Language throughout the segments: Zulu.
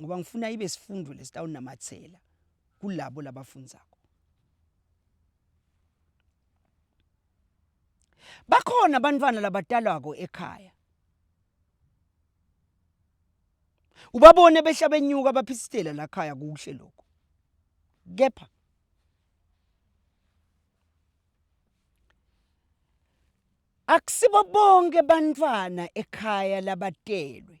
ngoba ngifuna ibe sifundo lesitawunamathela kulabo labafundzako. Bakhona bantfwana labatalwako ekhaya. Ubabone behla benyuka baphisitela lakhaya kuhle loko. Kepha akusibo bonke bantfwana ekhaya labatelwe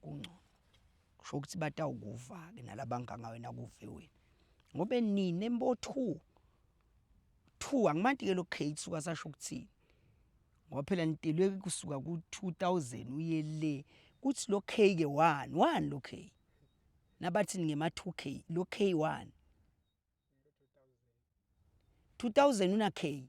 kungcono kusho ukuthi batawukuva-ke nalabanganga wena kuve wena ngobe nine mbo two two angimanti-ke lo gate suka sasho ukuthini ngoba phela nitelwe kusuka ku-two thousand uye le kuthi lo k-ke one one lo k nabathini ngema-two k lo k one two thousand una-k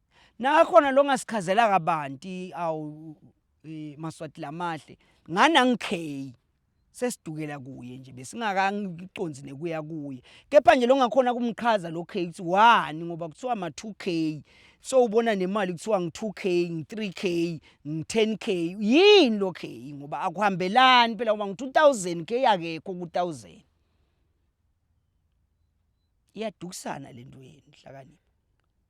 Nakhona longasichazela kabanti awu eh, maswati lamahle ngani angikheyi sesidukela kuye nje besingakangiconzi nekuya kuye kepha nje longakhona kumqhaza lo K ukuthi wani ngoba kuthiwa ma 2K so ubona nemali kuthiwa ngi 2K ngi 3K ngi 10K yini lo K ngoba akuhambelani phela ngoba ngi 2000 K akekho ku 1000 iyadukisana lento yenu hlakanipha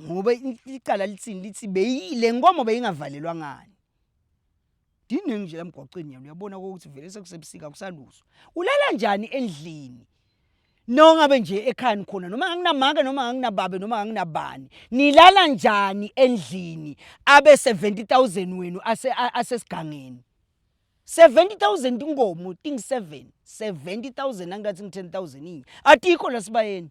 ngoba icala lithini lithi beyile nkomo beyingavalelwa ngani diningi nje lamgwaqweni yena uyabona ukuthi vele sekusebusika kusaluzwa ulala njani endlini nongabe nje ekhaya nikhona noma nganginamake noma nganginababe noma nganginabani nilala njani endlini abe 70000 wenu asesigangeni 70000 inkomo ting 7 70000 angathi ngi 10000 inye atikho lasibayeni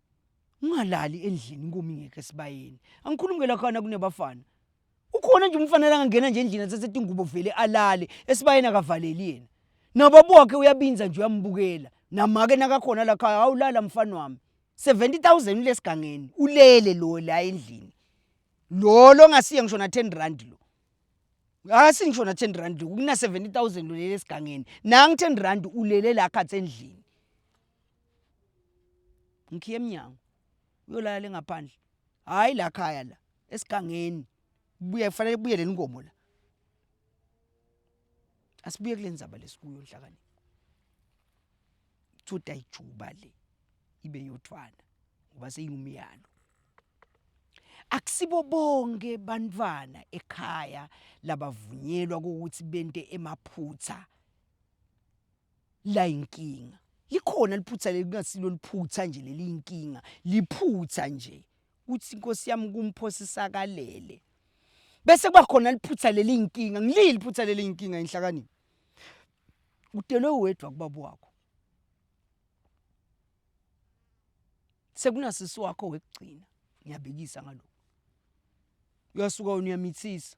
ungalali endlini inkomo ingekho esibayeni angikhulumi ke lakhana kunebafana ukhona nje umfana langangena nje endlini athathe tingubo vele alale esibayeni akavaleli yena nababa wakhe uyabinza nje uyambukela namake nakakhona lakhaya awulala mfana wami 70000 ulesigangeni ulele lo la endlini lo lo ngasiye ngisho na 10 rand lo akasi ngisho na 10 rand lo kuna 70000 lo lele esigangeni nangi 10 rand ulele la khathe endlini Ngikhiye emnyango uyolala le ngaphandle hhayi la khaya la esigangeni kubuye kufanele kubuye le nkomo la. Asibuye kule ndzaba le esikuyo Nhlakanipho uthole ukuthi ayijuba le ibe eyothwala ngoba seyingumyalo. Akusibo bonke bantfwana ekhaya labavunyelwa kukuthi bente emaphutsa. La inkinga. Likhona liphutha leli kungasilo liphutha nje leli inkinga. Liphutha nje. Kuthi Nkosi yami kumphosa isakalele. Bese kuba khona liphutha leli inkinga. Ngilili phutha leli inkinga inhlakaniphi. Udelwe wedwa kubaba wakho. Sekunasisi wakho wekugcina. Ngiyabikisa ngalokho. Uyasuka wena uyamithisa.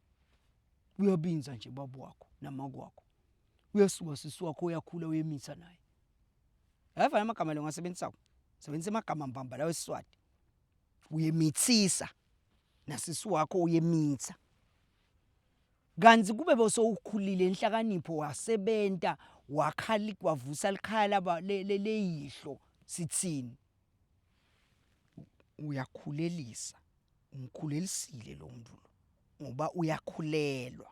Uyabinza nje baba wakho namakwakho. Uyasuka sisi wakho uyakhula uyemitha naye. Yavana amagama lo ngasebenzisa. Sebenzisa amagama mbamba lawe Siswati. Uyemithisa nasisi wakho uyemitha. Kanti kube bosowukhulile inhlakanipho wasebenta wakhali kwavusa likhaya laba leyihlo sithini. Uyakhulelisa umkhulelisile lo mntu lo ngoba uyakhulelwa.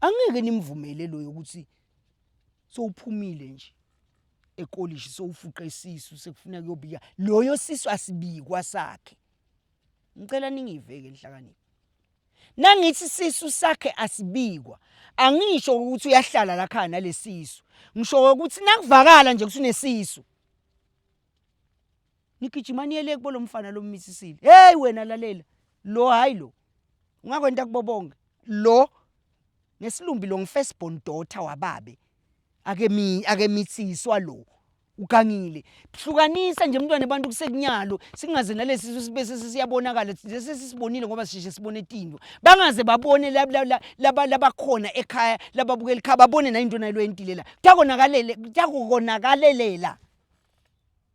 Angeke nimvumele loyo ukuthi sowuphumile nje ekolishi sowufuqa isisu sekufuna kuyobika loyo sisu asibikwa sakhe ngicela ningiveke nhlakanipho nangithi sisu sakhe asibikwa angisho ukuthi uyahlala la khaya nalesisu ngisho ukuthi nakuvakala nje ukuthi unesisu nigijima niyele kubo lomfana lommisisile hey wena lalela lo hayi lo ungakwenta kubo bonke lo nesilumbi lo ngifirst born daughter wababe ake mi ake mitsiswa lo ugangile hlukanisa nje mntwana abantu kusekunyalo singaze nalesi sibe sesiyabonakala lesi sisibonile ngoba sisheshe sibone itinto bangaze babone labakhona ekhaya lababukela ikhaya babone nayinto nayilo yentilela kuyakonakalelela kuyakonakalelela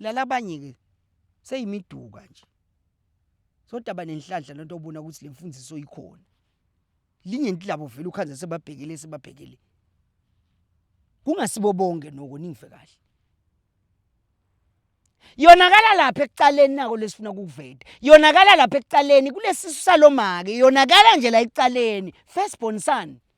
Lalabanye ke seyimiduka nje. Sodaba nenhlanhla lento obona ukuthi lemfundiso ikhona. Lingenti labo vele ukhanze sebabhekile sebabhekile. Kungasibo bonke noko ningve kahle. Yonakala lapha ekucaleni nako lesifuna kukuveta. Yonakala lapha ekucaleni kulesisu salomake. Yonakala nje la ekucaleni. First born son.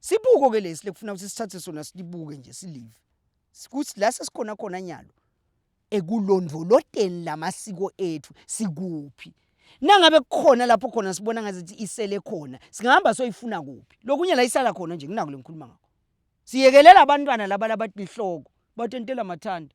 Sibuko ke lesi lekufuna ukuthi sithathe sona silibuke nje silive. Sikuthi la sesikhona khona nyalo ekulondoloteni lamasiko ethu sikuphi. Nangabe kukhona lapho khona sibona ngazithi isele khona, singahamba soyifuna kuphi. Lokunye la isala khona nje nginako lengikhuluma ngakho. Siyekelela abantwana laba labathi lihloko, batentela mathanda.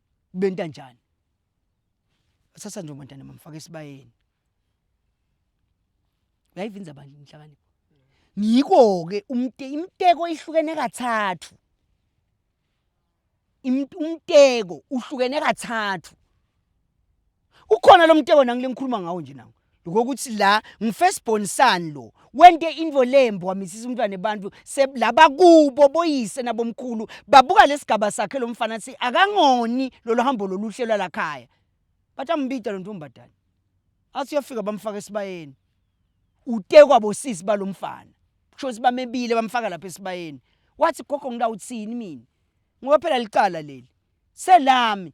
Benta njani? Sasa nje umntana mamfaka esibayeni. Uyayivinza bandla inhlakanipho. Ngiko ke umte imteko ihlukene kathathu. Imt- Umteko uhlukene kathathu. Ukhona lo mteko nangilengikhuluma ngawo nje nangu. ngokuthi la ngifirst born son lo wente into lembi wamithisa umntwana abantu laba kubo boyise nabomkhulu babuka lesigaba sakhe lo mfana athi akangoni lolu hambo loluhle lwalakhaya bathi ambida lo ntombadala athi uyafika bamfaka esibayeni utekwa bosisi balomfana kusho ukuthi bamebile bamfaka lapha esibayeni wathi gogo ngilawuthini mina ngoba phela licala leli selami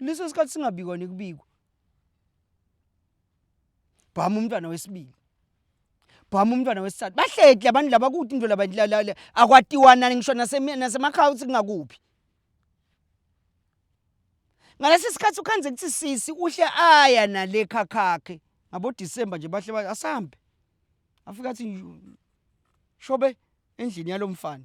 leso sikhathi singabikwa nekubikwa bhama umntwana wesibili bhama umntwana wesithathu bahleki labantu laba kuthi into laba akwatiwana ngisho nasemakhaya uthi kungakuphi ngalesi sikhathi ukhanze kuthi sisi uhle aya nale khakhakhe ngabodisemba nje bahle ba asambe afika athi shobe endlini yalomfana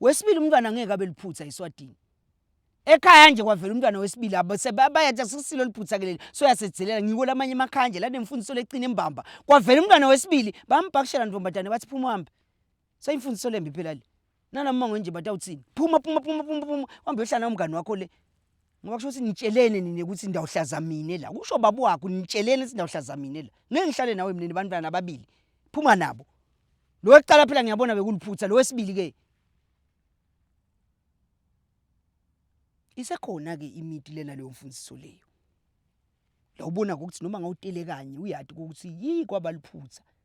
Wesibili umntwana angeke abe liphutha eSwatini. Ekhaya nje kwavela umntwana wesibili abayathi asikusilo liphutha ke leli soyasedzilela ngiko lamanye emakhaya nje lanemfundiso lecine imbamba. Kwavela umntwana wesibili bambhakishela ntfombatane bathi phuma uhambe. Sayimfundiso lembi phela le. Nalommongo nje batawutsini. Phuma phuma phuma phuma phuma uhambe uyohlala nawo mngani wakho le. ngoba kusho ukuthi nitshelene nina ukuthi ndawuhlaza mina la kusho baba wakho nitshelene ukuthi ndawuhlaza mina la ngeke ngihlale nawe mina nebantwana ababili phuma nabo lo wekuqala phela ngiyabona bekuliphutha lo wesibili ke isekhona ke imiti lena leyo mfundiso leyo lawubona ukuthi noma ngawutele kanye uyati ukuthi yi kwabaliphutha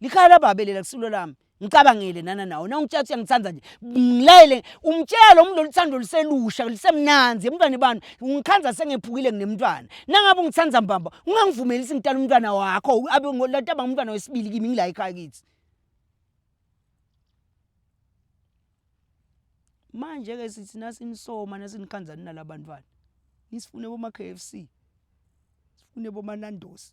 Likhaya lababe lela kusulo lami. Ngicabangele nana nawo. Na ungitshatha uyangithanda nje. Ngilayele umtshela lo muntu loluthando luselusha lusemnanzi emntwane bani. Ungikhanza sengephukile nginemntwana. Nangabe ungithanda mbamba ungangivumeli ukuthi ngitala umntwana wakho abe ngolata banga umntwana wesibili kimi ngila ekhaya kithi. Manje ke sithi nasinisoma nasinikhanzani nalabantwana. Nisifune boma KFC. Sifune boma Nando's.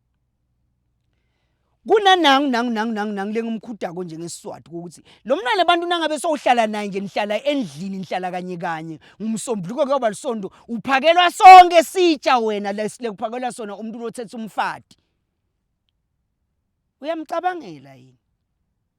kunanangu nangu nangu nangu nangu lengimkhudako nje ngesiswati ukuthi lo mntwana abantu nangabe sowuhlala naye nje nihlala endlini nihlala kanye kanye ngumsombuluko kuyoba lisondo uphakelwa sonke sitsha wena lekuphakelwa sona umuntu lothetha umfati uyamcabangela yini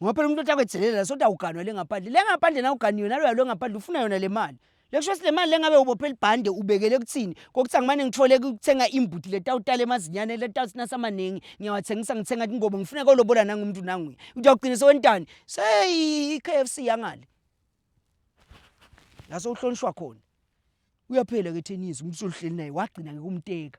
Ngoba phela umuntu othi akwethelele la soda uganwa le ngaphandle. Le ngaphandle nawe uganiwe naloya lo ngaphandle ufuna yona le mali. Le kusho ukuthi le mali le ngabe ubophe libhande ubekele kuthini? Kokuthi angimane ngithole kuthenga imbuti le tawutala emazinyane le tawuthi nasi amaningi ngiyawathengisa ngithenga tingobo ngifuna kolobola nangu umuntu nanguya. Uthi uyogcina sewentani? Seyi i-K_F_C yangale. La sewuhlonishwa khona. Uyaphela ke Thenisi umuntu usuhleli naye wagcina ke kumteka.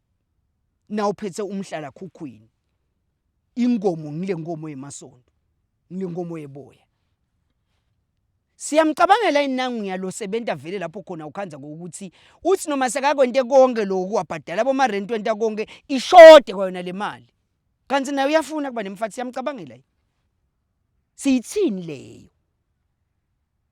nawuphethe umhlala khukhwini inkomo ngile nkomo yemasondo ngile nkomo yeboya siyamcabangela inangu yalo sebenta vele lapho khona ukhanza ngokuthi uthi noma sekakwente konke lokhu wabhadala boma rent wenta konke ishode kwayona le mali kanti naye uyafuna kuba nemfathi siyamcabangela siyithini leyo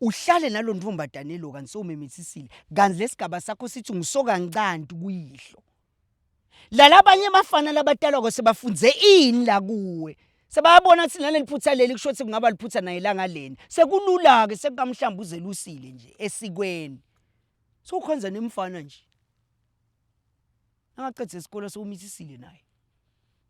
Uhlale nalo ntombazane lo kanti sewumemethisile kanti lesigaba sakho sithi ungusokancanti kuyihlo. Lala abanye abafana labatalwako sebafunze ini la kuwe? Sebabona ukuthi naleli phutha leli kusho ukuthi kungaba liphutha naye langa lena. Sekulula-ke sekukamhlamba uzelusile nje esikweni. Sewukhonza nemfana nje. Angaqeda isikole sewumithisile naye.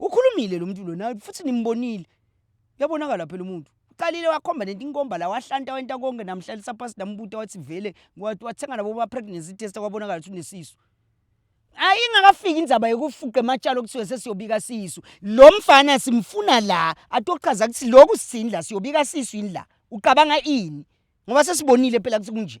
Ukhulumile lo muntu lona futhi nimbonile. Uyabonakala phela umuntu. Uqalile wakhomba nento inkomba la wahlanta wenta konke namhlalisa phansi nambuta wathi vele wathi wathenga nabo ba pregnancy test kwabonakala ukuthi unesisu. Ayi ingakafiki indzaba yokufuqa ematshalo okuthiwe sesiyobika sisu. Lo mfana simfuna la atochaza ukuthi lokhu sithini la siyobika sisu yini la. Ucabanga ini? Ngoba sesibonile phela ukuthi kunje.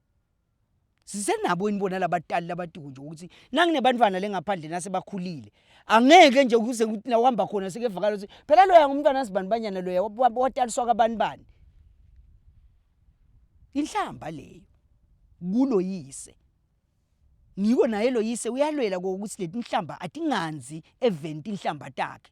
Sisenabo yini bona labatali labatiku nje ukuthi nanginebantwana lengaphandle nasebakhulile angeke nje kuze kuthi nawuhamba khona sekevakala ukuthi phela loya ngumntwana sibani banyana loya wataliswa kabani bani inhlamba leyo kulo yise ngiko naye lo yise uyalwela kokuthi letinhlamba atinganzi event inhlamba takhe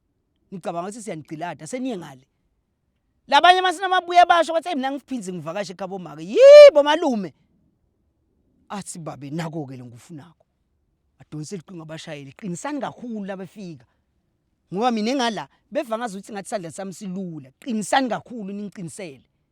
Nicabanga ukuthi siyanigcilada seniye ngale. Labanye uma sinamabuya basho bathi mina ngiphinzi ngivakashe ekhabo maka. Yibo malume. Athi babe nako ke lengufunako. Adonse liqinga abashayeli qinisani kakhulu labefika. Ngoba mina engala beva ngazuthi ngathi sandla sami silula. Qinisani kakhulu ningiqinisele.